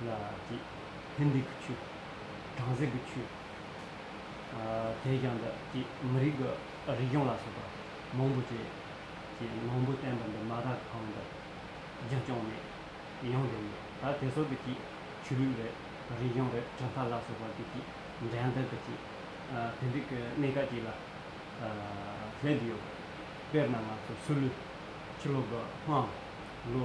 ལ་བགྱིད། ཕན་བདེ་གི་ཆོས། དྲང་སྲིད་ཀྱི་ཆོས། དེ་བཞིན་དུ་བགྱིད། མི་རིགས་ཀྱི་རིག་གཞུང་ལ་སོགས་པ་མང་པོ་བྱས། ཅེས་མང་པོ་བསྟན་པ་འདི་མ་དག་གང་དུ་རྒྱུན་བསྐྱངས་ནས་ཡང་བསྒྲུབས་ཡོད། ད་དེ་སོགས་ཀྱི་བགྱིད། ཆོས་ལུགས་རེད། རིག་གཞུང་རེད་གྲུབ་མཐའ་ལ་སོགས་པ་ཀྱི་བགྱིད། འགྲན་ཟླ་ཀྱི་བགྱིད། དེ་འདྲའི་ཀྱི་གནས་སྐབས་ཅིག་ལ་སླེབས་ཡོད། དཔེར་ན་ང་ཚོ་སུ་ལུ། ཕྱི་ལོ་དགུ་དམངས། ལོ།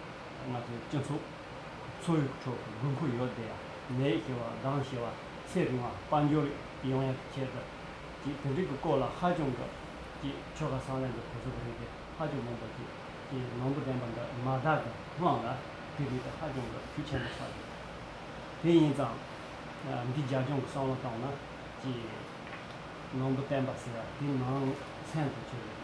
ང་ཚོའི་སྤྱི་ཚོགས་འཚོ་བའི་ཁྲོད་དགོས་མཁོ་ཡོད་དེ། ནད་ཞི་བ་དང་ཞི་བ་ཚེ་རིང་བ་དཔལ་འབྱོར་ཡོང་ཡག་བྱེད་ཐབས་ཀྱི་དེ་འབྲེལ་གྱི་སྐོར་ལ་ཧ་ཅང་གི་ཀྱི་ཆོལ་ཁ་སྲང་ལམ་གྱི་གོ་ཆོད་པ་རེད་དེ་ཧ་ཅང་མང་པོ་ཞིག་གི་ནོར་འབུ་ལྡན་པ་འདི་མ་བདག་གི་དམངས་ལ་དེ་རིགས་དེ་ཧ་ཅང་གི་ཤུགས་ཆེན་པོ་ཆགས་ཡོད། དེ་ཡིན་ཙང། འདི་རྒྱ་སྐྱོང་གི་བསམ་བློ་བཏང་ན་ཀྱི་ནོར་འབུ་བསྟན་པ་ཟེར་བ་དེ་ནང་ཚན་དུ་ཆུད་རེད།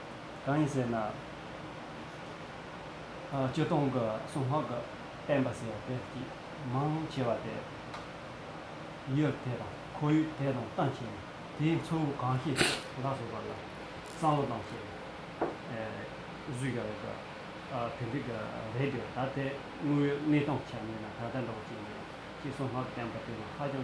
གང་ཡིན་ཟེར་ན། སྤྱི་སྟོང་གི་གསུང་སྔགས་ཀྱི་བསྟན་པ་ཟེར་བ་དེ་མང་ཆེ་བ་དེ་ཡུལ་དེ་དང་ཁོར་ཡུག་དེ་དང་བསྟུན་བྱས་ནས་དེའི་འཚོ་བ་གང་ཤེས་ལ་སོགས་པ་ལ་བསམ་བློ་བཏང་བྱས་ནས་བཟོས་ཀྱང་རེད་དོ་དེ་འགྲིག་ཀྱང་རེད་དོ་ད་དེ་དངོས་ཡོད་གནས་སྟངས་ཆ་མེད་ན་ད་ལྟ་འདྲ་བོ་ཅི་ཡིན་ཅེས་གསུང་སྔགས་ཀྱི་བསྟན་པ་དེ་ནི་ཧ་ཅང་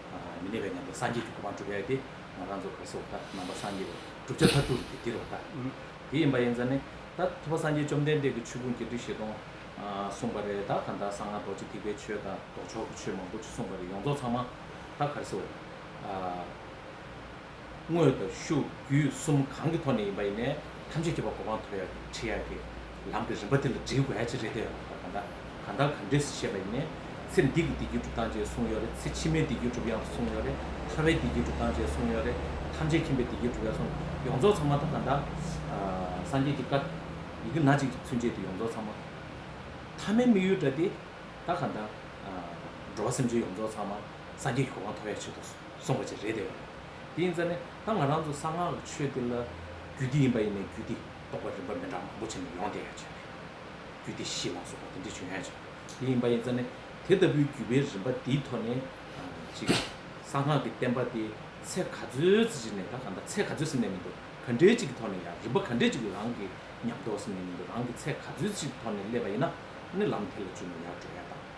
མི་གནས་པའི་ཉམས་དང་སངས་རྒྱས་ཀྱི་གོ་འཕང་འགྲུབ་ཡ་དེ་ང་རང་ཚོ་ག་སོག་ད་ནང་པ་སངས་རྒྱས་པ་བསྒྲུབ་བྱ་མཐར་ཐུག་གི་དེ་དེ་རོ་ད་དེ་ཡིན་པ་ཡིན་ཙང་ནི་ད་ཐུབ་པ་སངས་རྒྱས་བཅོམ་ལྡན་འདས་ཀྱི་ཆོས་ཀུན་གྱི་འབྲི་ཞེས་དང་གསུངས་པ་རེད་ད་གང་ད་གསང་སྔགས་རྡོ་རྗེ་ཐེག་པའི་ཆོས་དང་ལྡོག་ཕྱོགས་ཀྱི་ཆོས་མང་པོ་གསུངས་པ་རེད་ཡོངས་རྫོགས་ཚང་མ་ད་ག་རེ་སོ། དངོས་དང་ཤུགས་རྒྱུད་གསུམ་གང་གི་ཐོག་ནས་ཡིན་པ་ཡིན་ནས་ཐམས་ཅད་ཀྱི་བར་གོ་འཕང་ཐོབ་ཡག་གི་ཁྲིད་ཡག་གི་ལམ་གྱི་རིམ་པ་དེ་ལ་འདྲིས་དགོས་ཡ་ཅི་རེད་དེ་ལྟར་གང་དག་གང་དག་གང་འདྲས་ཤེས་པ་ཡིན་ནས་ཚེ་འདི་གི་བདེ་སྐྱིད་སྒྲུབ་སྟངས་བཅས་གསུངས་ཡོད་རེད་ཚེ་ཕྱི་མའི་བདེ་སྐྱིད་སྒྲུབ་ཡག་གསུངས་ཡོད་རེད་ཐར་བའི་བདེ་སྐྱིད་སྒྲུབ་སྟངས་བཅས་གསུངས་ཡོད་རེད་ཐམས་ཅད་མཁྱེན་པའི་བདེ་སྐྱིད་སྒྲུབ་ཡག་གསུངས་ཡོངས་རྫོགས་ཚང་མ་དང་གང་དག་སངས་རྒྱས་ཀྱི་བཀའ་ཡི་གེ་ན་གཅིག་གི་ཚུན་ཆད་དུ་ཡོངས་རྫོགས་ཚང་མ་ཐ་མའི་དམིགས་ཡུལ་འདྲ་དེ་དག་གང་དག་འགྲོ་བ་སེམས་ཅན་ཡོངས་རྫོགས་ཚང་མ་སངས་རྒྱས་ཀྱི་གོ་འཕང་ཐོབ་ཡག་ཆེད་དུ། སོང་བ་ཅིག་རེད་དེ། དེ་ཡིན་ཙང་ནས་ད་ང་རང་ཚོ་གསང་སྔགས་ཀྱི་ཆོས་འདི་ལ་རྒྱུད་སྡེ་ཡིན་པ་ཡིན་ནའི་རྒྱུད་སྡེ་གཏོགས་པ་རིམ་པ་མི་འདྲ་མང་པོ་བྱས་ནས་ཡོང་བསྡད་ཡོད་ཅིག་རེད། རྒྱུད་སྡེ་བཞི་ལ་སོགས་པ་དེ་འདྲས་བྱུང་ཡོད་ཅིག་རེད། དེ་ཡིན་པ་ཡིན་ཙང་ནས་དེ་ལྟ་བུའི་རྒྱུད་པའི་རིམ་པ་འདིའི་ཐོག་ནས་ཅིག་གསང་སྔགས་ཀྱི་བསྟན་པ་དེ་ཚད་ག་ཚོད་ཅིག་ནས་ད་ག་འདྲ་ཚད་ག་ཚོད་ཟིན་ནས་མི་འདུག་ག་འདྲའི་ཅིག་གི་ཐོག་ནས་ཡང་རིམ་པ་ག་འདྲའི་ཅིག་གི་རང་གི་ཉམས་རྟོགས་ཟིན་ནས་མི་འདུག་རང་གི་ཚད་ག་ཚོད་ཅིག་གི་ཐོག་ནས་སླེབས་པ་ཡིན་ན་ནི་ལམ་དེ་ལ་འཇུག་ན་ཡག་འགྲོ་ཡ་དང།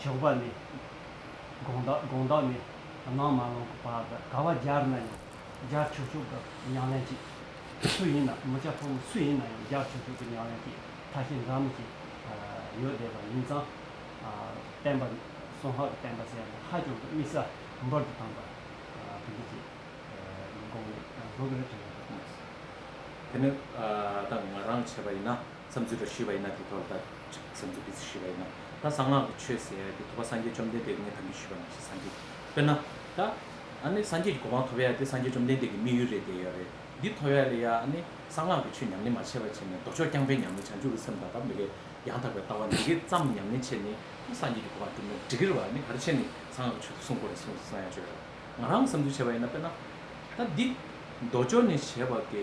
ཞོགས་པ་ནི། དགོང་དག་དགོང་དག་ནི། ནང་མ་ལོང་གི་བར་དགའ་བ་སྦྱར་ན་ཡང་སྦྱར་ཆོག་ཆོག་གི་ཉང་ལན་གྱིས། སུ་ཡིན་ན་མི་ཅག་ཕོ་མོ་སུ་ཡིན་ན་ཡང་སྦྱར་ཆོག་ཆོག་གི་ཉང་ལན་གྱིས་ཐ་ཤལ་འདྲ་མིན་གྱིས་ཡོལ་བསྡད་པ་ཡིན་ཙང། བསྟན་པ། སོང་ཧ་གི་བསྟན་པ་ཟེར་ནས་ཧ་ཅང་གི་དམིགས་ས་འབུར་དུ་བཏང་པ། དེ་འདི་ཅིག། དགོངས་ནས་དགོས་ཀྱི་རེད་དྲན་ཡོད་པ་ཐོངས། དེ་ནི། ད་ང་རང་བྱས་པ་ཡིན་ན། བསམ་ཚུལ་འདྲ་ཞུས་པ་ཡིན་ན་དེ་ཐོག་ལ་ད་བསམ་ཚུལ་འདི་ཚོ་ཞུས་པ་ཡིན་ན་ད་གསང་སྔགས་ཀྱི་ཆོས་ཟེར་ཡ་དེ་ཐུབ་པ་སངས་རྒྱས་བཅོམ་ལྡན་འདས་ཀྱིས་ངས་དམ་འབུལ་ཞུས་པ་མ་ཤེས་སངས་རྒྱས་དཔེར་ན་ད་ཨ་ནི་སངས་རྒྱས་ཀྱི་གོ་འཕང་ཐོབ་ཡ་དེ་སངས་རྒྱས་བཅོམ་ལྡན་འདས་ཀྱི་དམིགས་ཡུལ་རེད་དེ་ཡོད་རེད་འདི་ཐོབ་ཡ་ལས་ཡ་ཨ་ནི་གསང་སྔགས་ཀྱི་ཆོས་ཉམས་ལེན་མ་བྱས་པ་བྱས་ནས་ལྡོག་ཕྱོགས་རྐྱང་པས་ཉམས་ལེན་བྱང་ཆུབ་ཀྱི་སེམས་དང་དག་མི་འགལ་ཡང་དག་པའི་ལྟ་བ་འདི་གས་ཙམ་ཉམས་ལེན་བྱས་ནས་ཨ་སངས་རྒྱས་ཀྱི་གོ་འཕང་བསྒྲུབ་ན་འགྲིག་གི་རེད་བ་ཨ་ནི་ག་རེ་བྱས་ནས་གསང་སྔགས་ཀྱི་ཆོས་ཚོ་སྲུང་དགོས་རེད་གསུངས་སོང་ཡ་བརྗོད་རེད་བ་ང་རང་གིས་བསམ་ཚུལ་བྱས་པ་ཡིན་ན་དཔེར་ན་ད་འདི་ལྡོག་ཕྱོགས་ནས་བྱས་པ་དེ་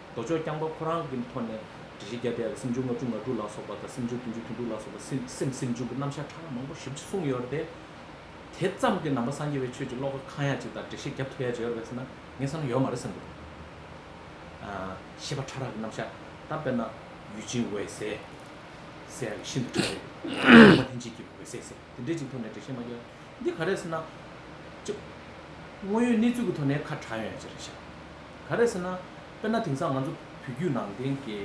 མདོ་ཕྱོགས་རྐྱང་པ་ཁོ་རང་གི་ཐོག་ནས་དྲི་ཞིབ་བརྒྱ་བརྒྱ་སེམས་བྱུང་ལྔ་དྲུག་ལྔ་དྲུག་ལ་སོགས་པ་དང་སེམས་བྱུང་བདུན་ཅུ་བདུན་དྲུག་ལ་སོགས་པ་སེམས་སེམས་བྱུང་གི་རྣམ་གཞག་ཕྲ་ལ་མང་པོ་ཞིབ་ཅིག་གསུངས་ཡོད་རེད་དེ། དེ་ཙམ་གྱིས་ནང་པ་སངས་རྒྱས་པའི་ཆོས་ཀྱི་བློ་ཁ་གང་ཡག་ཅིག་དང་དྲི་ཞིབ་རྒྱ་མཐུག་ཡག་ཅིག་ཡོད་རེད་ཟེར་ན་ངས་བསམ་ན་ཡོད་མ་རེད་བསམ་གྱི་འདུག་ཤེས་པ་ཕྲ་རགས་ཀྱི་རྣམ་གཞག་ད་དཔེར་ན་ཡུས་ཅིན་འོད་ཟེར་ཟེར་ཡག་གི་ཤིན་ཏུ་ཕྲ་རེད། ལུང་པ་ལྷན་སྐྱེས་ཀྱི་འོད་ཟེར་ཟེར་དེ་འདྲའི་ཅིག་ཐོག་ནས་དྲི་ཞིབ་མ་རྒྱག་འདི་ག་རེད་ཟེར་ན། དངོས་ཡོད་གནས་ཚུལ་གྱི་ཐོག་ནས་ཁ་གྲགས་ཡོད་ཡག་ཅིག་རེད་ཤག། ག་རེད་ཟེར་ན། དཔེར་ན་དེང་སང་ང་ཚོ་བོད་བརྒྱུད་ནང་བསྟན་གྱི་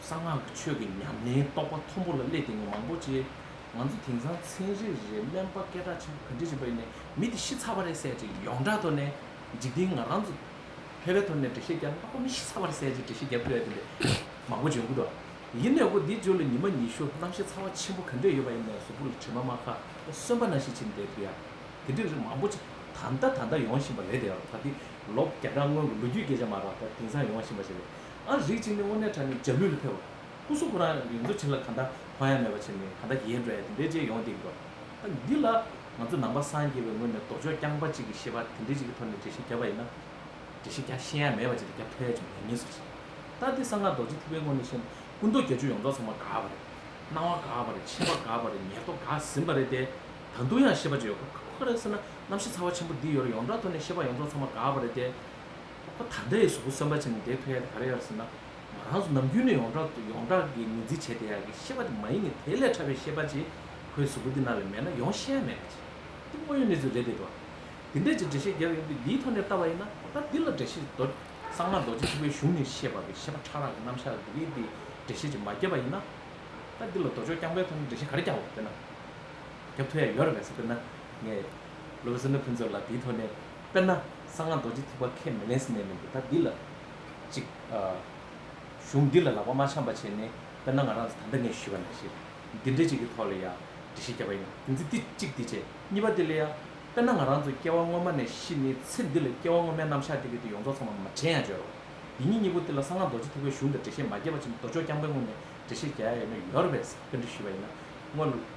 གསང་སྔགས་ཀྱི་ཆོས་ཀྱི་ཉམས་ལེན་རྟོགས་པ་མཐོན་པོ་ལ་སླད་དེ་ནས་མང་པོ་ཅི། ང་ཚོ་དེང་སང་ཚན་རེ་རེ་སྨན་པ་སྐད་གྲགས་ཆེན་པོ་ག་འདྲས་བྱས་པ་ཡིན་ནས་མི་དེ་ཤི་ཚར་བ་རེད་ཟེར་ཅིག་ཡོངས་གྲགས་ཐོག་ནས་འཇིག་རྟེན་ང་རང་ཚོ་ཕལ་པའི་ཐོག་ནས་འགྲེལ་བཤད་རྒྱབ་ན་ཨ་ཕ་མི་ཤི་ཚར་བ་རེད་ཟེར་ཅིག་འགྲེལ་བཤད་རྒྱབ་ཕལ་པའི་ཐོག་ནས་མང་པོ་བྱོན་གི་འགྲོ། ཡིན་ནའི་འོ་དེ་བརྗོད་ལ་ཉི་མ་ཉི་ཤུ་གནང་ཤི་ཚར་བ་ཆེན་པོ་ག་འདྲས་ཡོད་པ་ཡིན་ནས་ཟུར་བུ་ལ་དྲི་མ་མ་ཁ་གསོན་པ་ན་ཤི་ཕྱིན་དེ་དུས་ཡ། དེ་འདྲས་རིགས་མང་པོ་ཅི་ད་ལྟ་ད་ལྟ་ཡོང་བཞིན་པ་རེད་དེ་ད་ལྟའི་ལོ་བརྒྱ་ཕྲག་སྔོན་གྱི་ལོ་རྒྱུས་སྐད་ཆ་མ་རག་པ་དེང་སང་ཡོང་བ་ཤེས་པ་ཞིག་རེད་ཨང། རིགས་གཅིག་ནི་དབུ་མའི་གྲྭ་ནས་རྒྱ་ལུས་ལ་ཕེབས་པ། སྐུ་གཟུགས་ཁོ་རང་གི་ཡོངས་རྫོགས་བྱིན་རླབས་གང་འདྲ་གང་ཡང་མེད་པ་བྱས་ནས་གང་འདྲ་ཡལ་འགྲོ་ཡ་དེ་འདྲའི་རྗེས་ཡོང་སྡིགས་འགྲོ། འདི་ལ་ང་ཚོ་ནང་པ་སངས་རྒྱས་པའི་ངོས་ནས་ལྡོག་ཕྱོགས་རྐྱང་པ་གཅིག་གི་ཤེས་པ་དེ་འདྲའི་གཅིག་གི་ཐོག་ནས་འགྲེལ་བཤད་བརྒྱབ་པ་ཡིན་ན། འགྲེལ་བཤད་རྒྱ་ཤེས་ཡ་མེད་པ་གཅིག་ལ་རྒྱབ་ཐོ་ཡ་ཅིག་མེད་ངེས་སུ་རེད། ལྟ་དེ་གསང་སྔགས་རྡོ་རྗེ་ཐེག་པའི་ངོས་ནས་བཤད་ན་སྐུ་མདོག་བརྒྱད་ཅུ་ཡོངས་རྫོགས་ཚང་མ་དགའ་བ་རེད། སྣང་བ་དགའ་བ་རེད་ཆེ་བ་དགའ་བ་རེད་ཉེར་བསྡོགས་དགའ་ཟིན་པ་རེད་དེ། ད་དུང་ཡང་ཤེས་པ་ཅིག་ཡོད་ཁོ་ཁོ་ག་རེད་ཟེར་ན་རྣམ་བཞི་ཚ་བ་ཆེན་པོ་འདི་ཡོད་རེ་ཡོངས་གྲགས་ཐོག་ནས་ཤེས་པ་ཡོངས་རྫོགས་ཚང་མ་འགགས་པ་རེད་དེ། ཁོ་ད་ལྟ་ཡི་གཟུགས་པོ་གསོན་པ་བྱས་ནས་དེའི་ཐོད་ཡ་དེ་ག་རེ་ཡོད་ཟེར་ན། ང་རང་ཚོ་ནམ་རྒྱུན་ནས་ཡོངས་གྲགས་ཡོངས་གྲགས་ཀྱི་ངོས་འཛིན་བྱས་དེ་ཡ་གི་ཤེས་པ་དེ་མ་ཡིན་གི་དེ་ལས་ཕྲ་བའི་ཤེས་པ་ཅིག་ཁོའི་གཟུགས་པོ་འདི་ན་ལས་མེད་ན་ཡོང་ཤེས་ཡ་མེད་རེད། འདི་དངོས་ཡོད་གནས་ཚུལ་རེད་དེ་འདྲ། དེ་འདྲས་ཀྱི་འགྲེལ་བཤད་རྒྱབ་ཡོང་གི་འདིའི་ཐོག་ནས་བལྟ་བ་ཡིན་ན་ད་ལྟ་འདི་ལ་འགྲེལ་བཤད་ཀྱི་དོ། གསང་སྔགས་རྡོ་རྗེ་ཆེན་པོའི་གཞུང་ནས་བཤད་པ་པའི་ཤེས་པ་ཕྲ་རགས་ཀྱི་རྣམ་གཞག་ལ་འདི་གའི་འདིའི་འགྲེལ་བཤད་ཅིག་མ་རྒྱབ་པ་ཡིན་ན། ད་འདི་ལ་མདོ་ཕྱོགས་རྐྱང་པའི་ཐོག་ནས་འགྲེལ་བཤད་ག་རེ་རྒྱབ་བོ་དེ་ན། དེ་ཕོ་ཡ་ཡོད་རེད་ཟེར་དཔེར་ན། ངས་ལོ་བཟོ་ནི་ཕུན་ཚོགས་ལ་དེའི་ཐོག་ནས་དཔེར་ན་གསང་སྔགས་རྡོ་རྗེ་ཐེག་པ་ཁས་མི་ལེན་ཟེར་ནས་མི་འདུག་ད་འདི་ལ་ཅིག། གཞུང་འདི་ལ་ལག་པ་མ་འཆང་པ་བྱས་ནས་དཔེར་ན་ང་རང་ཚོ་ད་ལྟ་ངས་ཞུས་པ་ན་ཞེས་འདི་འདྲའི་ཅིག་གི་ཐོག་ལ་ཡང་འདྲི་ཤེས་བརྒྱབ་པ་ཡིན་ན་དེ་ཚེ་འདི་གཅིག་འདི་བྱས་གཉིས་པ་འདི་ལ་ཡང་དཔེར་ན་ང་རང་ཚོ་སྐྱེ་བ་སྔོན་མ་ནས་ཤི་ནས་ཚེ་འདི་ལ་སྐྱེ་བ་སྔོན་མའི་རྣམ་གཞག་དེ་གི་དེ་ཡོངས་རྫོགས་ཚང་མ་མ་དྲན་ཡང་བརྗོད་རོགས། འདི་གཉིས་གཉིས་པོ་དེ་ལ་གསང་སྔགས་རྡོ་རྗེ་ཐེག་པའི་གཞུང་དེར་འགྲེལ་བཤད་མ་རྒྱས་པ་ཕྱིན་མདོ་ཕྱོགས་རྐྱང་པའི་སྔོན་ནས་འགྲེལ་བཤད་རྒྱ་ཡ་ཡོད་ན་ཡོད་རེད་ཟེར་བའི་འདྲི་ཞུས་པ་ཡིན་ན་དངོས།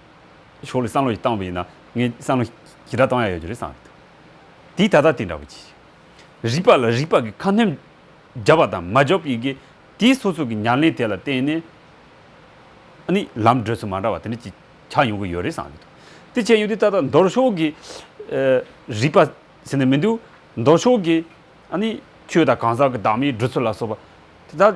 ཕྱོགས་ལས་བསམ་བློ་ཞིག་བཏང་བ་ཡིན་ན་ངས་བསམ་བློ་ཞི་དྲག་བཏང་ཡག་ཡོད་ཀྱི་རེད་བསམ་ཡོད། དེའི་ད་ལྟ་དེ་འདྲ་བོ་གྱིས། རིག་པ་ལ་རིག་པ་གི་ཁ་སྣོན་རྒྱབ་པ་དང་མ་རྒྱོབ་ཡི་གེ་དེའི་སོ་སོ་གི་ཉར་ལེན་དེ་ལ་བརྟེན་ནས་ནི་ལམ་བགྲོད་ཚུལ་མ་འདྲ་བ་དེ་འདྲ་གྱིས་ཆགས་ཡོང་གི་ཡོད་རེད་བསམ་ཡོད། དེ་བྱས་ཡོང་དུས་ད་ལྟ་མདོར་ཕྱོགས་ཀྱི་རིག་པ་ཟེར་ནས་མི་འདུག་མདོར་ཕྱོགས་ཀྱི་ནི་ཆོས་དང་གང་ཟག་གི་བདག་མེད་བགྲོད་ཚུལ་ལ་སོགས་པ་དེ་དག་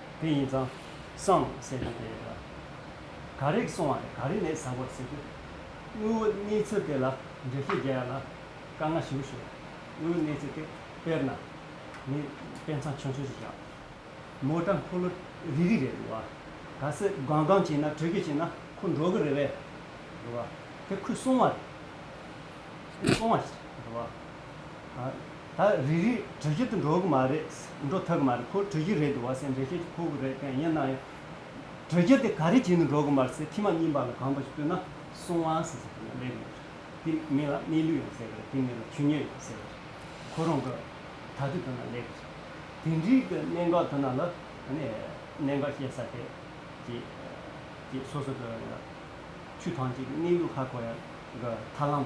དེ་ཡིན་ཙང། སངས་ཟེར་རྒྱུ་དེ་རེད་ལ། ག་རེག་སོང་བ་ལས་ག་རེ་ནས་ཟ་དགོས་ཟེར་དུས། དངོས་བོ་གནས་ཚུལ་དེ་ལ་འགྲེལ་བཤད་རྒྱག་ཡ་ལ། དཀའ་ངལ་ཞི་བོ་ཞུ། དངོས་བོ་གནས་ཚུལ་དེ་དཔེར་ན། ནི་དཔེ་མཚང་ཆུང་ཆུང་ཞིག་བཞག། མོ་ཏྲ་འཁོར་ལོ་རིལ་རིལ་རེད་འདུག་བ། ག་ཟེ་སྒང་སྒང་བྱིན་ན་དྲོད་ཀྱི་བྱིན་ན་ཁོ་འགྲོ་གི་རེད་བས། འདུག་བ། དེ་ཁོས་སོང་བ་རེད། སོང་བ་ཞིག་རེད་འདུག་བ། ད་རེ་རེ་གྲོས་ཆོད་དུ་འགྲོ་གི་མ་རེད། འགྲོ་ཐུབ་གི་མ་རེད་ཁོ་གྲོས་གཞི་རེད་འདུག་བ་སེ་འབྲེལ་ཆོད་ཀྱི་ཁུག་རེད་ཀན་ཡིན་ན་ཡང། གྲོས་ཆོད་དེ་ག་རེ་བྱེད་དུ་འགྲོ་གི་མ་རེད་ཟེར་ཁྱི་མ་གཉིས་པ་ལ་གང་པ་ཞིག་བསྟོད་ན་སོང་བ་ཟེར་ཟེར་གྱི་ལབ་ཡོང་གི་རེད། དེ་མི་ལ་གནས་ལུས་ཡོང་ཟེར་གི་རེད་དེ་མི་ལ་ཆུ་ཉོས་ཡོང་ཟེར་གི་རེད། ཁོ་རང་གི་ད་དུས་དུ་ན་ལབ་གི་རེད། དེ་འདྲིའི་གི་གནད་འགག་དུ་ན་ལ་གནད་འགག་བཤད་ས་དེ་གི་གི་སོ་སོ་གི་ཆུ་ཐང་གཅིག་གི་གནས་ལུགས་ཧ་གོ་ཡ་གི་ཐར་ལམ།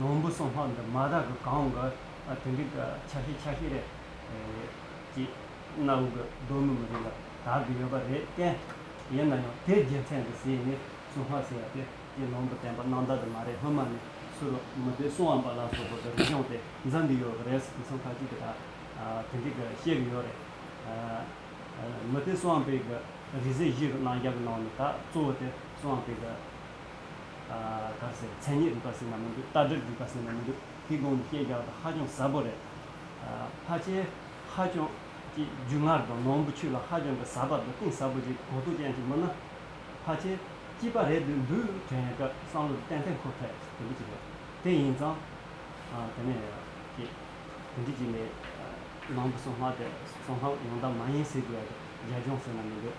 ནོར་བུ་སོང་ལྷག་འདི་མ་བདག་གི་གང་གི་དེ་འགྲིག་གི་ཆ་ཤས་ཆ་ཤས་རེད། ཅེས་གནའ་བོའི་གི་གདོན་མི་མི་རིགས་ལ་དར་གི་ཡོད་པ་རེད་བསྟན། ཡིན་ན་ཡང་དེའི་རྒྱལ་མཚན་འདི་ཟེར་ནས་སུ་ཧ་ཟེར་ཡ་དེ་ཀྱི་ནོར་བུ་བསྟན་པ་གནང་བདག་དེ་མ་རེད་སྔོན་མ་ནས་སུ་རུ་མི་དེ་སུ་འམ་པ་ལ་སོགས་པོ་དེ་རིག་གཞུང་དེ་འཛིན་གི་ཡོད་གི་རེད་ཟེར་དེ་མཚམས་ཁ་ཅིག་གི་དག་དེ་འགྲིག་གི་བཤད་གི་ཡོད་རེད། མི་དེ་སུ་འམ་པའི་གི་རིག་ཟས་གཞིས་གི་གནང་རྒྱག་གི་ནང་ནས་དག་གཙོ་བོ་དེ་སུ་འམ་པའི་གི། ཨ། དཀར་ཟས་མཚན་ཉིད་རིག་པ་སྲིད་ན་མི་འདུག་རྟ་དྲེལ་རིག་པ་སྲིད་ན་མི་འདུག་ཧི་གོང་ནི་སྐྱེས་རྒྱག་དང་ཧ་ཅང་ཟབ་པོ་རེད། ཧ་ཅེ། ཧ་ཅང། ཀྱི་རྒྱུ་ངར་དང་ནོར་བུ་ཆུ་ལ་ཧ་ཅང་གི་ཟབ་པ་དང་གཏིང་ཟབ་པོ་ཅིག་གོ་ཐུག་ཅན་ཅིག་མིན་ན། ཧ་ཅེ། སྐྱིད་པ་རེད་འདོད་འདུག་དྲན་ཡོད་སྐབས་བསམ་བློ་དེ་ཏན་ཏན་འཁོར་ཐལ་དེ་འདྲི་ཅིག་རེད། དེ་ཡིན་ཙང། དེ་ནས། ཀྱི། དེ་འདྲི་ཅིག་ནི། ནང་དུ་སོང་སྔགས་དེ་སོང་སྔགས་ཡོང་ད་མ་ཡིན་སྲིད་དགོས་རྒྱ་སྦྱོང་སྲིད་ན་མི་འདོད།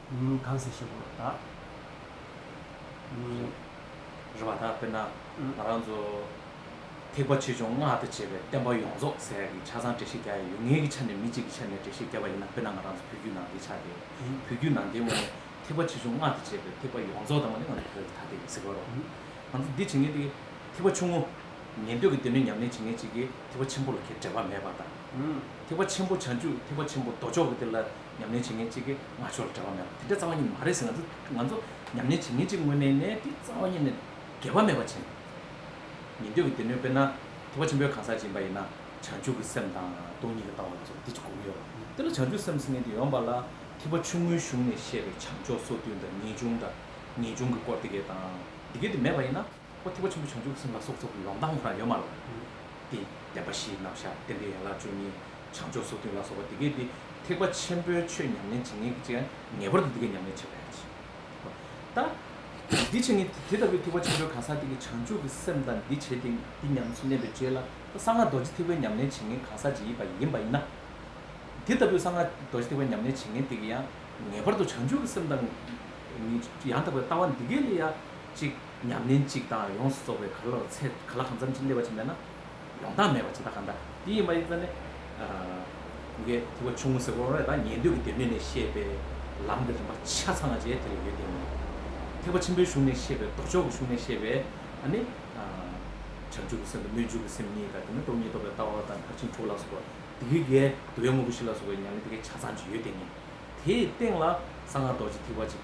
ཉིན་གཉིས་གང་ཟེར་ཤེས་དགོས་པ་དག་ཉིན་རེ། རེ་བ་དག་དཔེར་ན་ང་རང་ཚོ་ཐེག་པ་ཆེ་ཆུང་སྔགས་དང་བཅས་པའི་བསྟན་པ་ཡོངས་རྫོགས་ཟེར་ཡག་གི་ཆ་ཚང་འགྲེལ་བཤད་རྒྱག་ཡ་ཡོད་ངེས་ཀྱི་ཆ་ནས་མི་གཅིག་གི་ཆ་ནས་འགྲེལ་བཤད་རྒྱབ་པ་ཡིན་ན་དཔེར་ན་ང་རང་ཚོ་བོད་བརྒྱུད་ནང་བསྟན་ཆགས་ཏེ་བོད་བརྒྱུད་ནང་བསྟན་ངོས་ནས་ཐེག་པ་ཆེ་ཆུང་སྔགས་དང་བཅས་པའི་ཐེག་པ་ཡོངས་རྫོགས་དང་པོ་ནི་ང་ཚོ་བོད་ལ་ཐ་དད་ཡིན་ཟེར་གི་རོ། ང་ཚོ་འདི་བྱེད་མཁན་དེ་ཐེག་པ་ཆུང་ངུ་ཉན་འདོད་ཀྱི་སྡེ་སྣོད་ཉམས་ལེན་བྱེད་མཁན་གཅིག་གིས་ཐེག་པ་ཆེན་པོ་ལ་ཁྱེད་འབྲེལ་བ་མེད་པ་དང། ཐེག་པ་ཆེན་པོ་བྱང་ཆུབ་ཐེག་པ་ཆེན་པོ་མདོ་ཕྱོགས་ཀྱི་དེ་ལ་ཉམས་ལེན་བྱེད་མཁན་གཅིག་གིས་ང་ཕྱོགས་ལ་བྲེལ་བ་མེད་པ་དེ་འདྲ་རྩ་བ་ཉིད་ནས་མ་རེད་ཟེར་ན་ཚོད་དཀའ། ང་ཚོ་ཉམས་ལེན་བྱེད་མཁན་གཅིག་དངོས་གནས་ནས་དེ་རྩ་བ་ཉིད་ནས་འགལ་བ་མེད་པ་བྱེད་ན། ཉན་ཐོས་ཀྱི་སྡེ་སྣོད་དཔེར་ན་ཐེག་པ་ཆེན་པོའི་གང་ཟག་སྦྱིན་པ་ཡིན་ན་བྱང་ཆུབ་ཀྱི་སེམས་དང་སྟོང་ཉིད་ཀྱི་ལྟ་བ་ལ་སོགས་འདི་གཅིག་བསྒོམ་ཡོད་ལ། དེ་ལ་བྱང་ཆུབ་སེམས་སེམས་ཉིད་དུ་ཡོངས་པ་ལ་ཐེག་པ་ཆུང་ངུའི་གཞུང་ནས་བཤད་པའི་བྱང་ཕྱོགས་སོ་བདུན་དང་ངེས་འབྱུང་དང་ངེས་འབྱུང་གི་སྐོར་དེ་སྐད་དང་འདི་སྐད་དུ་མེད་པ་ཡིན་ན། ཨོ་ཐེག་པ་ཆེན་པོ་བྱང་ཆུབ་སེམས་ལ་སོགས་ཚོགས་ཀྱི་ལམ་སྟངས་ལྷར་ཡོད་མ་ལགས། ཏེ། བདེན་པ་བཞིའི་རྣམ་གཞག་བདེན་པའི་ཡན་ལག་བཅུ་གཉིས། བྱང་ཕྱོགས་སོ་བདུན་ལ་སོགས་པ་འདི་སྐད་དེ། ཐེག་པ་ཆེན་པོའི་ཆོས་ཉམས་ལེན་བྱེད་ངེས་ཀྱི་ཕྱིར། ངེས་པར་དུ་འདི་སྐད་ཉམས་ལེན་བྱེད་པ་ཡིན་གྱི། ཧོ། ད། འདི་བྱེད་ངེས་ཏེ་དེ་ལྟ་བུའི་ཐེག་པ་ཆེན་པོའི་གང་ཟག་དེ་ཀྱི་བྱང་ཆུབ་ཀྱི་སེམས་དང་འདི་བྱེད་དེ་འདི་ཉམས་སུ་བསྣན་པའི་རྗེས་ལ་ད་གསང་སྔགས་རྡོ་རྗེ་ཐེག་པའི་ཉམས་ལེན་བྱེད་ངེས་གང་ཟག་ཅིག་ཡིན་པ་ཡིན་པ་ཡིན་ན། དེ་ལྟ་བུའི་གསང་སྔགས་རྡོ་རྗེ་ཐེག་པའི་ཉམས་ལེན་བྱེད་ངེས་དེ་ཀྱི་ཡང། ངེས་པར་དུ་བྱང་ཆུབ་ཀྱི་སེམས་དང། ནི། ཡང་དག་པའི་ལྟ་བ་འདི་སྐད་ལས་ཡང། གཅིག་ཉམས་ལེན་གཅིག་དང་ཡོངས་སུ་རྫོགས་པའི་ག་ལ་ལ་ཚད་ག་ལ་གང་འཚམ་ཅིག་སླེབས་པ་ཅིག་མེད་ན། ཡོངས་དག་མེད་པ་ཅིག་དང་གང་འདྲ་དེ་ཡིན་པ་ཡིན་ཙང་ནི། གུ་གེ་ཐུབ་པ་ཆུང་ངུ་ཟེར་བ་རེད་ད་ཉན་ཐོས་ཀྱི་སྡེབས་སྣེ་ནས་བཤད་པའི་ལམ་གྱི་རིམ་པ་ཆ་ཚང་བཅས་དེ་ལ་ཡོད་དེ་ནི། ཐེག་པ་ཆེན་པོའི་གཞུང་ནས་བཤད་པའི་ལྡོག་ཕྱོགས་ཀྱི་གཞུང་ནས་བཤད་པའི་ནི། བྱང་ཆུབ་ཀྱི་སེམས་དང་སྨོན་འཇུག་གི་སེམས་གཉིས་དང་དེ་ནི་སྟོང་ཉིད་རྟོགས་པའི་ལྟ་བ་དང་མཐར་ཕྱིན་དྲུག་ལ་སོགས་པ་དེ་གུ་གེ་དུ་བའི་དངོས་པོ་བཞི་ལ་སོགས་པའི་ཉམས་ལེན་དེ་གའི་ཆ་ཚང་བཅས་ཡོད་དེ་ནི། དེའི་སྟེང་ལ་གསང་སྔགས་རྡོ་རྗེ་ཐིགས་པ་ཅིག།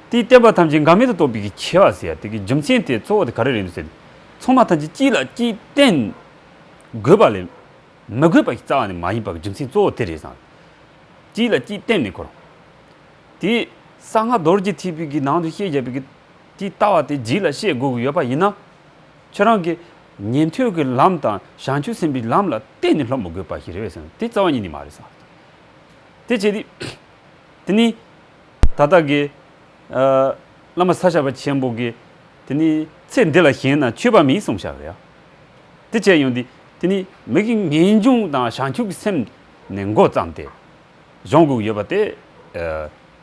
དེས་བསྟན་པ་ཐམས་ཅད་འགག་མེད་དུ་རྟོགས་པའི་ཀྱི་ཆེ་བ་ཟེར་ཡ་དེ་གི་རྒྱུ་མཚན་དེ་གཙོ་བོ་དེ་ག་རེ་རེད་འདུག་ཟེར། ཚང་མ་ཐམས་ཅད་གཅིག་ལ་གཅིག་བརྟེན་དགོས་པ་ལས། མི་དགོས་པ་ཞིག་རྩ་བ་ནས་མ་ཡིན་པ་གི་རྒྱུ་མཚན་གཙོ་བོ་དེ་རེད་བསམ། གཅིག་ལ་གཅིག་བརྟེན་མེད་འཁོར། དེས་གསང་སྔགས་རྡོ་རྗེ་ཐེག་པའི་གི་ནང་དུ་བཤད་བཞག་པའི་གི་དེའི་ལྟ་བ་དེ་རྗེས་ལ་བཤད་དགོས་གི་ཡོད་པ་ཡིན་ན། ཁྱོད་རང་གི་ཉན་ཐོས་ཀྱི་ལམ་དང་བྱང་ཆུབ་སེམས་པའི་ལམ་ལ་བརྟེན་ནས་སློབ་མི་དགོས་པ་ཞིག་རེད་བསམ་དེ་རྩ་བ་ཉིད་ནས་མ་རེད་བསམ། དེ་བྱས་དུས། དེ་ནི་ད་ལྟ་གི། བླ་མ་ས་བྱ་བ་ཆེན་པོ་གི། དེ་ནི་ཚེ་འདི་ལ་གཞན་ན་ཆོས་པ་མིན་གསུང་བྱ་བ་ཡང། དེ་བྱས་ཡོང་དུས་དེ་ནི་མི་གི་ངེས་འབྱུང་དང་བྱང་ཆུབ་ཀྱི་སེམས་ནས་མགོ་བརྩམས་ཏེ། གཞུང་དགུག་ཡོད་པ་སྟེ།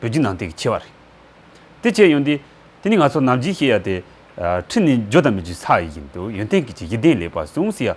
བོད་བརྒྱུད་ནང་བསྟན་གྱི་ཆེ་བ་རེད། དེ་བྱས་ཡོང་དུས་དེ་ནི་ང་ཚོ་ནམ་བྱེད་ཤེས་ཡ་དེ། ཁྲི་ནི་འཇོ་དང་མི་འཇོའི་ས་ཡིན་དུ་ཡོན་ཏན་གྱི་ཆེ་ཡིད་ལྡན་ལེགས་པར་ཟུངས་ཟེར་ཡ།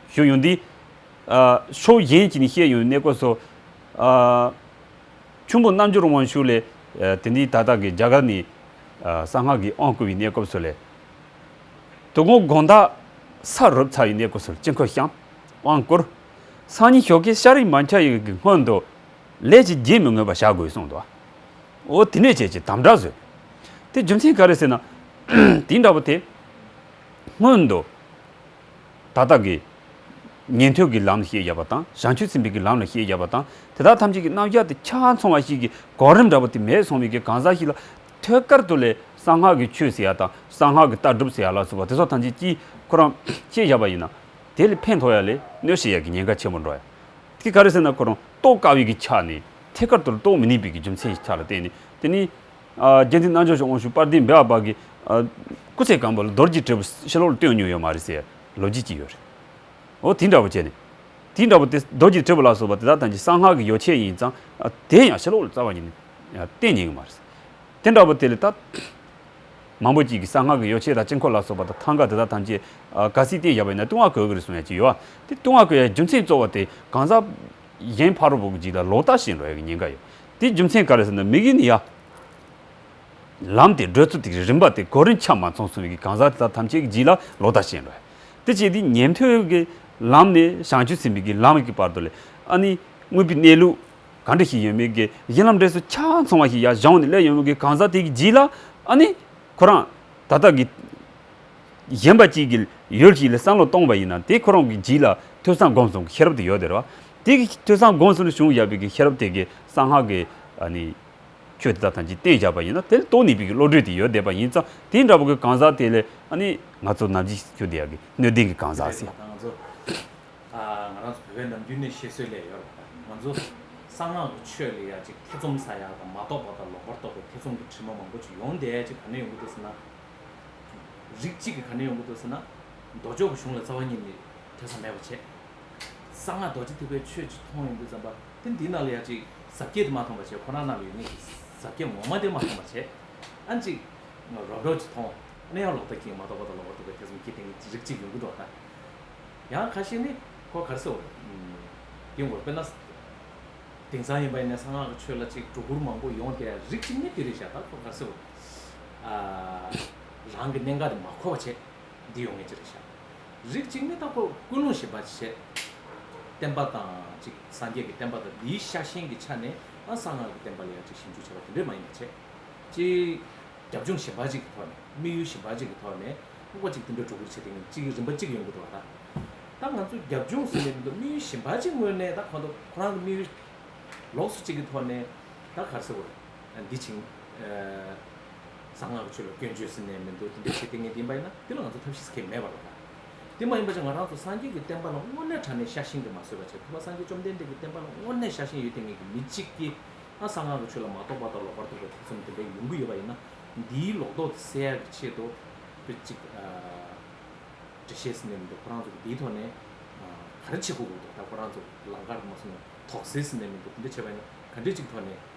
ཞུས་ཡོད་འདུག། ཕྱོགས་གཞན་གྱིས་ནི་བཤད་ཡོད་གནས་སྐོར་སོགས། ཁྱུང་པོ་རྣལ་འབྱོར་དབང་ཕྱུག་ལས། དེ་འདི་ད་ལྟ་གི་རྒྱ་གར་ནི། གསང་སྔགས་ཀྱི་དབང་བསྐུར་བའི་གནས་སྐོར་སོགས་ལས། དུག་མོ་དགོངས་དག་ས་རུབ་ཚར་བའི་གནས་སྐོར་སོགས་དཀྱིལ་འཁོར་བཤམ། དབང་བསྐུར། སང་ཉིན་ཞོགས་ཀའི་ཤར་རིའི་མ་འཁྱགས་ཡུལ་གྱི་སྔོན་དུ། ལས་ཀྱི་རྒྱས་མི་ངོས་པ་བྱ་དགོས་གསུངས་འདུག། འོ་དེ་ནས་བྱེད་ཅེས་དམ་བསྒྲགས་བཟོས། དེ་རྒྱུ་མཚན་ག་རེ་ཟེར་ན། དེ་འདྲ་བོ་དེ། སྔོན་དུ། ད་ལྟ་གི། ཉན་ཐོས་ཀྱི་ལམ་ལ་ཤེས་བརྒྱབ་པ་དང་བྱང་ཆུད་ཚིམ་པའི་ཀྱི་ལམ་ལ་ཤེས་བརྒྱབ་པ་དང་དེ་དག་ཐམས་ཅད་ཀྱི་རྣམ་གཞག་དེ་ཆ་མཚུངས་བ་ཞིག་གི་གོ་རིམ་འདྲ་བོ་དེ་མེད་སོང་བའི་གི་གང་ཟག་ཞིག་ལ། ཐོད་དཀར་དུ་ལས་གསང་སྔགས་ཀྱི་ཆོས་ཟེར་ཡ་དང་གསང་སྔགས་ཀྱི་ལྟ་གྲུབ་ཟེར་ཡ་ལ་སོགས་པ་དེ་སོགས་ཐམས་ཅད་ཀྱིས་ཁོ་རང་ཤེས་བཞག་པ་ཡིན་ན། དེ་ལས་ཕན་ཐོགས་ཡ་ལས་གནོད་བྱེད་ཡ་གི་ཉེན་ཁ་ཆེན་པོ་འགྲོ་ཡ། དེ་ག་རེ་ཟེར་ན་ཁོ་རང་རྟོགས་དཀའ་བའི་གི་ཆ་ནས་ཐད་ཀར་དུ་རྟོགས་མི་ནུས་པའི་གི་རྒྱུ་མཚན་ཞིག་ཆགས་ལ་བརྟེན་ནས་དེ་ནི། རྒྱལ་འཛིན་རྣལ་འབྱོར་ཆོས་དབང་ཕྱུག་དཔལ་ལྡན་སྦས་པ་པ་གིས། སྐུ་ཚེ་གང་པོ་ལ་རྡོར་གྱི་དྲིལ་བུ་ཕྱི་ལོགས་ལ་སྟོན་མྱོང་ཡོད་མ་རེད་ཟེར་ཡ་ལོ་རྒྱུས་ཀྱི་ཡོད་རེད། འོ་དེ་འདྲ་བོ་བྱས་ནས། དེ་འདྲ་བོ་དེ་རྡོར་གྱི་དྲིལ་བུ་ལ་སོགས་པ་དེ་དག་ཐམས་ཅད་གསང་སྔགས་ཀྱི་ཡོ་བྱད་ཡིན་ཙང་དེ་ཡང་ཕྱི་ལོགས་ལ་རྩ་བ་ཉིད་ནས་བསྟན་མྱིན་གྱི་མ་རེད། དེ་འདྲ་བོ་དེ་ལས་ཐབས་མང་པོ་གྱིས་གི་གསང་སྔགས་ཀྱི་ཡོ་བྱད་དང་དཀྱིལ་འཁོར་ལ་སོགས་པ་དང་ཐང་ག་དེ་དག་ཐམས་ཅད་ག་སྲིད་བསྟན་བཞག་པ་ཡིན་ན་ལྟུང་བ་གོས་གི་རེད་གསུང་ཡ་གྱི་ཡོད། དེ་ལྟུང་བ་གོས་ཡའི་རྒྱུ་མཚན་གཙོ་བོ་དེ་གང་ཟག་གཞན་ཕ་རོལ་པོ་གི་རྗེས་ལ་ལོག་ལྟ་བྱེད་འགྲོ་ཡ་གི་ཉེན་ཁ་ཡོད། དེའི་རྒྱུ་མཚན་ག་རེ་ཟེར་ན་མིག་ཡིན་ཡ། ལམ་དེ་བགྲོད་ཚུལ་དེའི་རིམ་པ་དེ་གོ་རིམ་ཆ་མ་ཚང་སོང་བའི་གང་ཟག་དེ་དག་ཐམས་ཅད་ཀྱི་རྗེས་ལ་ལོག་ལྟ་བྱེད་ནུས། དེ་བྱས་དུས་ཉན་ཐོས་ཀྱི་ལམ་ནས་བྱང་ཆུབ་སེམས་དཔའི་གྱི་ལམ་གྱི་བར་དུ་ལས་ཨ་ནི་དངོས་པོའི་གནས་ལུགས་གང་འདྲ་ཞིག་ཡོད་མེད་ཀྱི་གཞི་ལམ་འབྲས་སུ་ཆ་ཚང་བ་ཞིག་ཡ་བཞག་ནས་སླེབས་ཡོང་བའི་གང་ཟག་དེ་གྱི་རྗེས་ལ་ཨ་ནི་ཁོ་རང་ད་ལྟ་གི་གཞན་པ་གཅིག་གི་ཡུལ་ཞིག་ལ་བསམ་བློ་གཏོང་བ་ཡིན་ན་དེ་ཁོ་རང་གི་རྗེས་ལ་ཐོས་བསམ་སྒོམ་གསུམ་གྱི་ཤེས་རབ་དེ་ཡོད་དེ་རེད་བ། དེ་གི་ཐོས་བསམ་དགོངས་གསུམ་བྱུང་ཡབ་བིག་ཤར་བ་དེ་གི་གསང་སྔགས་ཀྱི་ནི། ཆོས་དེ་དག་ཐམས་ཅད་གཏན་བཞག་པ་ཡིན་ན་དེ་ལ་རྟོག་ནུས་པའི་བློ་གྲོས་དེ་ཡོད་བསྡད་པ་ཡིན་ཙང་དེ་འདྲ་བ་གི་གང་ཟག་དེ་ལས་ནི་ང་ཚོ་ནམ་འཆི་ཁྱུ་འདི་ཡ་གི་སྣོད་ལྡན་གི་གང་ཟག་ཟེར། ང་ཚོ་ང་རང་ཚོ་བོད་པའི་ནམ་རྒྱུན་ནས་བཤད་སྲོལ་ལས་ཡོད་པ་དང་ང་ཚོ་གསང་སྔགས་ཀྱི་ཆོས་ལས་ཡ་ཅིག་ཐེ་ཚོམ་ཟ་ཡ་དང་མ་རྟོགས་པ་དང་ལོག་པར་རྟོག་པའི་ཐེ་ཚོམ་གྱི་དྲི་མ་མང་པོ་ཅིག་ཡོང་བསྡད་ཅིག་ག་ནས་ཡོང་གི་འདུག་ཟེར་ན། རིགས་གཅིག་གི་ག་ནས་ཡོང་གི་འདུག་ཟེར་ན། མདོ་ཕྱོགས་ཀྱི་གཞུང་ལ་རྩ་བ་ཉིད་ནས་ཐོས་བསམ་མེད་པ་བྱས། གསང་སྔགས་རྡོ་རྗེ་ཐེག་པའི་ཆོས་ཀྱི་མཐོང་ཡོང་དུས་ཙམ་པ་དེ་འདི་རྣམས་ལ་ཡང་ཅིག་ཟབ་རྒྱས་དུ་མ་མཐོང་བར་བྱས་ཁོ་རང་རྣམས་ཡོད་ངེས་ཀྱི་ཟབ་རྒྱས་ངོ་མ་དེ་མ་མཐོང་བར་བྱས། ཨ་ཅིག། རོ་བྲོ་ཅིག་མཐོང། ནི་ཡང་ལོག་ལྟ་གྱིས་མ་རྟོགས་པ་དང་ལོག་པར་རྟོགས་པའི་ཐེ་ཚོམ་སྐྱེས་ཏེ་ངེས་རིག་ཅིག་ཡོང་གི་འགྲོ་བ་དང། ཡང་ཁ་ཤས་ནི་ཁོ་གར་སོ། དེའི་འོག་དཔེར་ན། དེང་སང་ཡིན་པ་ཡིན་ནས་གསང་སྔགས་ཀྱི་ཆོས་ལ་ཅིག་སྒྲོ་སྐུར་མང་པོ་ཡོང་དེ་རིག་ཅིག་ནི་དེ་རིག་བྱས་ལྟར་ཁོ་གར་སོ། རང་གི་གནད་འགག་དེ་མ་གོ་བར་བྱས། འདི་ཡོང་ངེས་ཅི་རིག་བྱ། རིགས་གཅིག་མི་རྟག་པ་ཀུན་སློང་ཞེས་པ་བྱས། བསྟན་པ་དང་གཅིག་སངས་རྒྱས་ཀྱི་བསྟན་པ་དང་འདིའི་ཤ་ཞེན་གྱི་ཆ་ནས་ཡང་གསང་སྔགས་ཀྱི་བསྟན་པ་ལ་ཡང་གཅིག་ཞིབ་འཇུག་བྱེད་པ་དེ་འདྲས་མ་ཡིན་པ་བྱས། སྤྱིར། རྒྱབ་ལྗོངས་གཞན་པ་གཅིག་གི་ཐོག་ནས་དམིགས་ཡུལ་གཞན་པ་གཅིག་གི་ཐོག་ནས་དམིགས་པ་གཅིག་དེ་འདྲ་སྒྲོ་སྐུར་བྱེད་ཐེངས་གཅིག་རིམ་པ་གཅིག་ཡོང་གི་འགྲོ་བ་དང། ད་ང་ཚོ་རྒྱབ་ལྗོངས་སུ་མེད་མི་འདུག་དམིགས་ཡུལ་གཞན་པ་གཅིག་དངོས་གནས་ད་ཁོ་ཐག་ཁོ་རང་གི་དམིགས་ཡུལ་ལོགས་སུ་གཅིག་གི་ཐོག་ནས་ད་གར་ཟེར་དགོས་རེད། འདི་བྱིངས། གསང་སྔགས་ཆོས་ལ་སྐྱོན་བརྗོད་ཟེར་ནས་མི་འདུག་དེ་འདྲའི་བྱེད་གཏན་ངེས་ཡིན་པ་ཡིན་ན་དེ་ལ་ང་ཚོ་ཐབས་ཤེས་ཟེར་མཁན་མེད་པ་རོགས་ཟླ། དེ་མ་ཡིན་པ་ཆ་ང་རང་ཚོ་སངས་རྒྱས་ཀྱི་བསྟན་པ་ལ་དངོས་གནས་དྲ་ནས་ཤ་ཞེན་གྱི་མ་བཟོད་པ་བྱས་ཐུབ་པ་སངས་རྒྱས་བཅོམ་ལྡན་འདས་ཀྱི་བསྟན་པ་ལ་དངོས་གནས་ཤ་ཞེན་ཡོད་ཏེ་ངེད་ཀྱི་མི་གཅིག་གིས་ཨང་གསང་སྔགས་ཀྱི་ཆོས་ལ་མ་གཏོགས་པ་དང་ལོག་པར་རྟོག་པའི་ཐེ་ཚོམ་དེ་འདྲ་ཡོང་གི་ཡོད་པ་ཡིན་ན་འདིའི་ལོག་རྟོག་དེ་བསལ་ཡག་གི་ཆེད་དུ་དཔེ་གཅིག་འབྲི་ཤེས་ཟེར་ནས་མི་འདུག་ཁོ་རང་ཚོ་གི་འདིའི་ཐོག་ནས་ག་རེ་བྱེད་དགོས་དགོས་འདུག་ད་ཁོ་རང་ཚོ་ལང་ཀར་མ་སོང་ནས་དོགས་ཟེར་ཟེར་ནས་མི་འདུག་དེ་འདྲ་བྱས་པ་ཡིན་ན་ག་འདྲས་གཅིག་གི་ཐོག་ནས།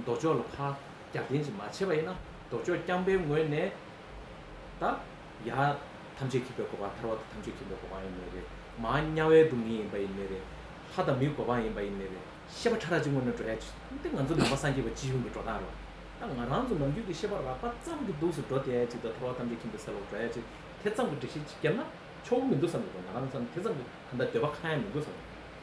མདོ་ཕྱོགས་ལ་ཕ་རྒྱ་རྟེན་ཅིང་མ་ཕྱེ་བ་ཡིན་ན་མདོ་ཕྱོགས་རྐྱང་པའི་ངོས་ནས་ད་ཡང་ཐམས་ཅད་ཁྱིམ་པའི་གོ་འཕང་ཐར་བ་དང་ཐམས་ཅད་ཁྱིམ་པའི་གོ་འཕང་ཡིན་ནི་རེད་མ་དམྱལ་བའི་སྡུག་བསྔལ་ཡིན་པ་ཡིན་ནི་རེད་ལྷ་དང་མིའི་གོ་འཕང་ཡིན་པ་ཡིན་ནི་རེད་ཤེས་པ་ཕྲ་རགས་ཀྱི་ངོས་ནས་འགྲོ་ཡ་འདི་ང་ཚོ་ནང་པ་སངས་རྒྱས་པ་སྤྱི་གཞུང་གི་འགྲོ་སྟངས་རེད་ད་ང་རང་ཚོ་ནམ་རྒྱུན་གྱི་ཤེས་པ་རགས་པ་ཙམ་གྱི་འདུག་སུ་འགྲོ་བསྡད་ཡ་ཅིག་དང་ཐར་བ་ཐམས་ཅད་ཁྱིམ་པའི་སེལ་བར་འགྲོ་ཡ་ཅིག་དེ་ཙམ་གྱི་སྒྲིག་གཞི་ཅིག་བརྒྱབ་ན་ཆོག་གི་མི་འདུག་བསམ་གྱི་འདུག་ང་རང་ཚོ་ནི་དེ་ཙམ་གྱི་གང་ལྟར་འདོད་པ་གང་ཡང་མི་འདུག་བསམ་གྱི་འདུག།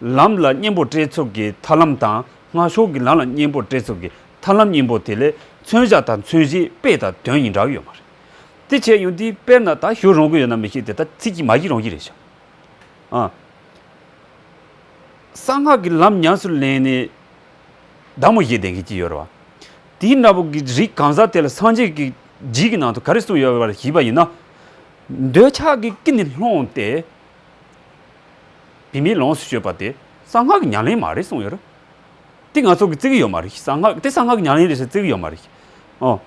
ལམ་ལ་གཉེན་པོར་བཀྲལ་ཚུལ་གྱི་ཐར་ལམ་དང་སྔ་ཞོགས་ཀྱི་ལམ་ལ་གཉེན་པོར་བཀྲལ་ཚུལ་གྱི་ཐར་ལམ་གཉིས་པོ་དེ་ལས་མཚོན་བྱ་དང་མཚོན་གཞིའི་དཔེ་དང་དོན་གཉིས་འདྲ་བ་ཡོད་མ་རེད། དེ་བྱས་ཡོང་དུས་དཔེར་ན་ད་ཞུ་རུང་གི་ཡོད་ན་མི་ཤེས་དེ་ལྟར་ཚིག་གིས་མ་ཤེས་རུང་གི་རེད་བྱ། ཨང། གསང་སྔགས་ཀྱི་ལམ་ཉམས་སུ་ལེན་ནས་བདག་མོ་བཞེས་བསྡད་མཁན་གྱི་ཡོད་རེད་བ། དེའི་འདྲ་པོ་གི་རིགས་གང་ཟག་དེ་ལ་སངས་རྒྱས་ཀྱི་རྗེས་ཀྱི་ནང་དུ་ག་རེ་གསུངས་ཡོད་པར་ཞིབ་པ་ཡིན་ན། འདོད་ཆགས་ཀྱི་ཀི་ནི་སློང་སྟེ་བི་མས་ལོངས་སུ་སྤྱོད་པ་དེ་གསང་སྔགས་ཀྱི་ཉམས་ལེན་མ་རེད་གསུངས་ཡོད། དེ་ང་ཚོ་གི་བརྩི་གི་ཡོད་མ་རེད་གསང་སྔགས་དེ་གསང་སྔགས་ཀྱི་ཉམས་ལེན་རེད་ཟེར་བརྩི་གི་ཡོད་མ་རེད། ཨོ།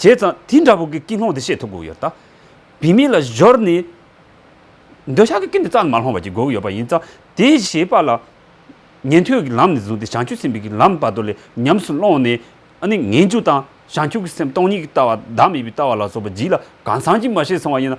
བྱས་ཙང་དེ་འདྲ་བོ་གི་ཀི་སློང་དེ་བཤད་ཐུབ་དགོས་ཡོད་ད། བི་མས་ལ་གཞོལ་ནས། འདོད་ཆགས་ཀྱི་ཀི་འདི་རྩ་ནས་མ་སློང་བར་གྱི་དགོས་ཀྱི་ཡོད་པ་ཡིན་ཙང་དེ་བྱས་པ་ལ། ཉན་ཐོས་ཀྱི་ལམ་ནས་བཟུང་སྟེ་བྱང་ཆུབ་སེམས་དཔའི་ཀི་ལམ་བར་དོ་ལས་ཉམས་སུ་བླངས་ནས། ཨ་ནི་ངན་སྐྱུགས་དང་བྱང་ཆུབ་ཀྱི་སེམས་སྟོང་ཉིད་ཀྱི་ལྟ་བ་བདག་མེད་པའི་ལྟ་བ་ལ་སོགས་པ་བགྱིས་ལ་གང་སངས་རྒྱས་མ་བྱས་སོང་བ་ཡིན་ན།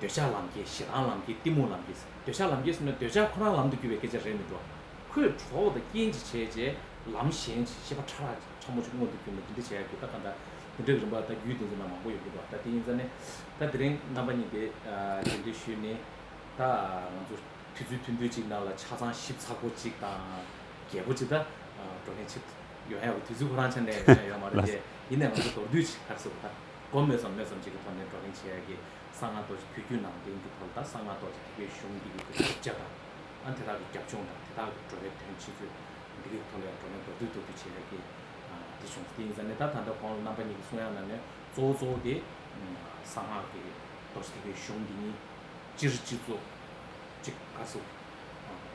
འདོད་ཆགས་ལམ་གྱིས་ཞེ་སྡང་ལམ་གྱིས་གཏི་མུག་ལམ་གྱིས་འདོད་ཆགས་ལམ་གྱིས་ཟེར་ན་འདོད་ཆགས་ཁོ་རང་ལམ་དུ་རྒྱུ་བའི་སྐད་ཆ་རེད་མི་འགྲོ། ཁོས་གྲོགས་དང་རྐྱེན་གྱིས་བྱས་རྗེས་ལམ་གཞན་ཞེས་བྱིས་པ་ཕྲ་རགས་ཕྲ་མོ་ཅིག་མངོན་དུ་གྱུར་ནས་འདི་འདི་བྱས་ཡག་གི་ད་གང་ད། དེ་འདྲའི་རིམ་པ་ད་རྒྱུད་འདི་ཚོ་ན་མང་པོ་ཡོད་ཀྱི་འདུག་ད་དེ་ཡིན་ས་ནི། ད་དེ་རིང་རྣམ་པ་གཉིས་དེ་རྗེས་འབྲེལ་ཞུས་ནི། ད་ང་ཚོ་དུས་ཚོད་ཐུང་ཐུང་ཅིག་ནང་ལ་ཆ་ཚང་ཞིབ་ཚགས་པོ་ཅིག་དང། རྒྱས་པོ་ཅིག་ད་འགྲོ་མཁན་ཆེད་ཡོང་ཡག་གི་དུས་ཚོད་ཁོ་རང་ཆ་ནས་ཡོང་ཡག་མ་རེད་ལ། དེ་ཡིན་ནའི་ང་ཚོ་མདོར་བསྡུས་ཅིག་ག་རེ་ཟེར་དགོས་ད། སྒོ་སྨོས་སམ་སྨོས་སམ་ཅིག་གི་ཐོག་ནས་བགྲོ་གླེང་བྱེད་ཡ་གི། གསང་སྔགས་རྡོ་རྗེ་ཕུད་རྒྱུད་ནང་བསྟན་གྱི་ཐོག་ལ་དང་གསང་སྔགས་རྡོ་རྗེ་ཐེག་པའི་གཞུང་འདི་ཡི་དགོས་དོན་བཅས་དང། ཨ་དེ་དག་གི་རྒྱབ་ལྗོངས་དང་དེ་དག་གི་འགྲོ་བའི་དོན་ཆེད་ཚུལ། འདི་གི་ཐོག་ལ་ཡང་བགྲོ་གླེང་མདོར་བསྡུས་མདོར་བསྡུས་བྱེད་ཡ་གི། དེ་བྱུང་ཚེ་དེ་ཡིན་ཙང་ནི་ད་ད་ལྟ་ཁོང་རྣམ་པ་གཉིས་ཀྱི་གསུང་དབྱངས་རྣམས་ནི་གཙོ་བོ་གཙོ་བོ་དེ། གསང་སྔགས་ཀྱི་རྡོ་རྗེ་ཐེག་པའི་གཞུང་འདི་ཉིད། སྤྱིར་སྤྱི་གཙོ། གཅིག་བཀའ་ཟུར།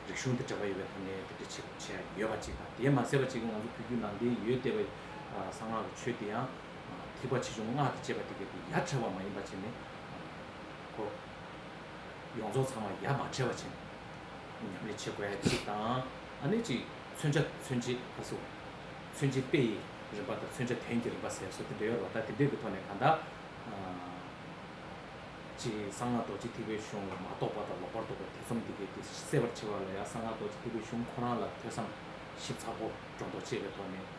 རིག་གཞུང་དང་འབྲེལ་བ་ཡོད་པའི་ཐོག་ནས་དེ་འདྲ་བྱེད་དགོས་བྱེད་ཡ་གི་ཡོད་པ་གཅིག་དང་དེས་མ་ཟད་པ་གཅིག་ང་ཚོ་ཕུད་རྒྱུད་ནང་བསྟན་ཡོད་བལྟས་པ། གསང་སྔགས་ཀྱི་ཆོས་དེ་ཡང། ཐིགས་པ་ཆེ་ཆུང་སྔགས་ཀྱི་བཅས་པ་དེ་ཀ་དེ་ཡ་བྲལ་བ་མ་ཡིན་པ་བྱས་ནས་གོ། ཡོངས་རྫོགས་ཚང་བ་ཡ་མ་བྲལ་བ་བྱས་ནས་ཉམས་ལེན་བྱེད་དགོས་གཅིག་དང། ཨ་ནི་གཅིག་མཚོན་བྱ་མཚོན་བྱེད་པ་སོགས་མཚོན་བྱེད་དཔེ་ཡི་རིམ་པ་དང་མཚོན་བྱ་དོན་གྱི་རིམ་པ་ཟེར་སོགས་དེ་འདྲ་ཡོད་རོགས་ད་དེ་འདྲས་ཀྱི་ཐོག་ནས་གང་དག་ཅི་གསང་སྔགས་རྡོ་རྗེ་ཐིགས་པའི་གཞུང་ལ་མ་རྟོགས་པ་དང་ལོག་པར་རྟོགས་པའི་ཐེ་ཚོམ་དེ་ཀ་དེ་སེལ་བར་བྱེད་པ་ལ་ཡང་གསང་སྔགས་རྡོ་རྗེ་ཐིགས་པའི་གཞུང་ཁོ་རང་ལ་ཐོས་བསམ་ཞིབ་ཚགས་པོ་སྒྲོ་འདོགས་བཅད་པའི་ཐོག་ནས།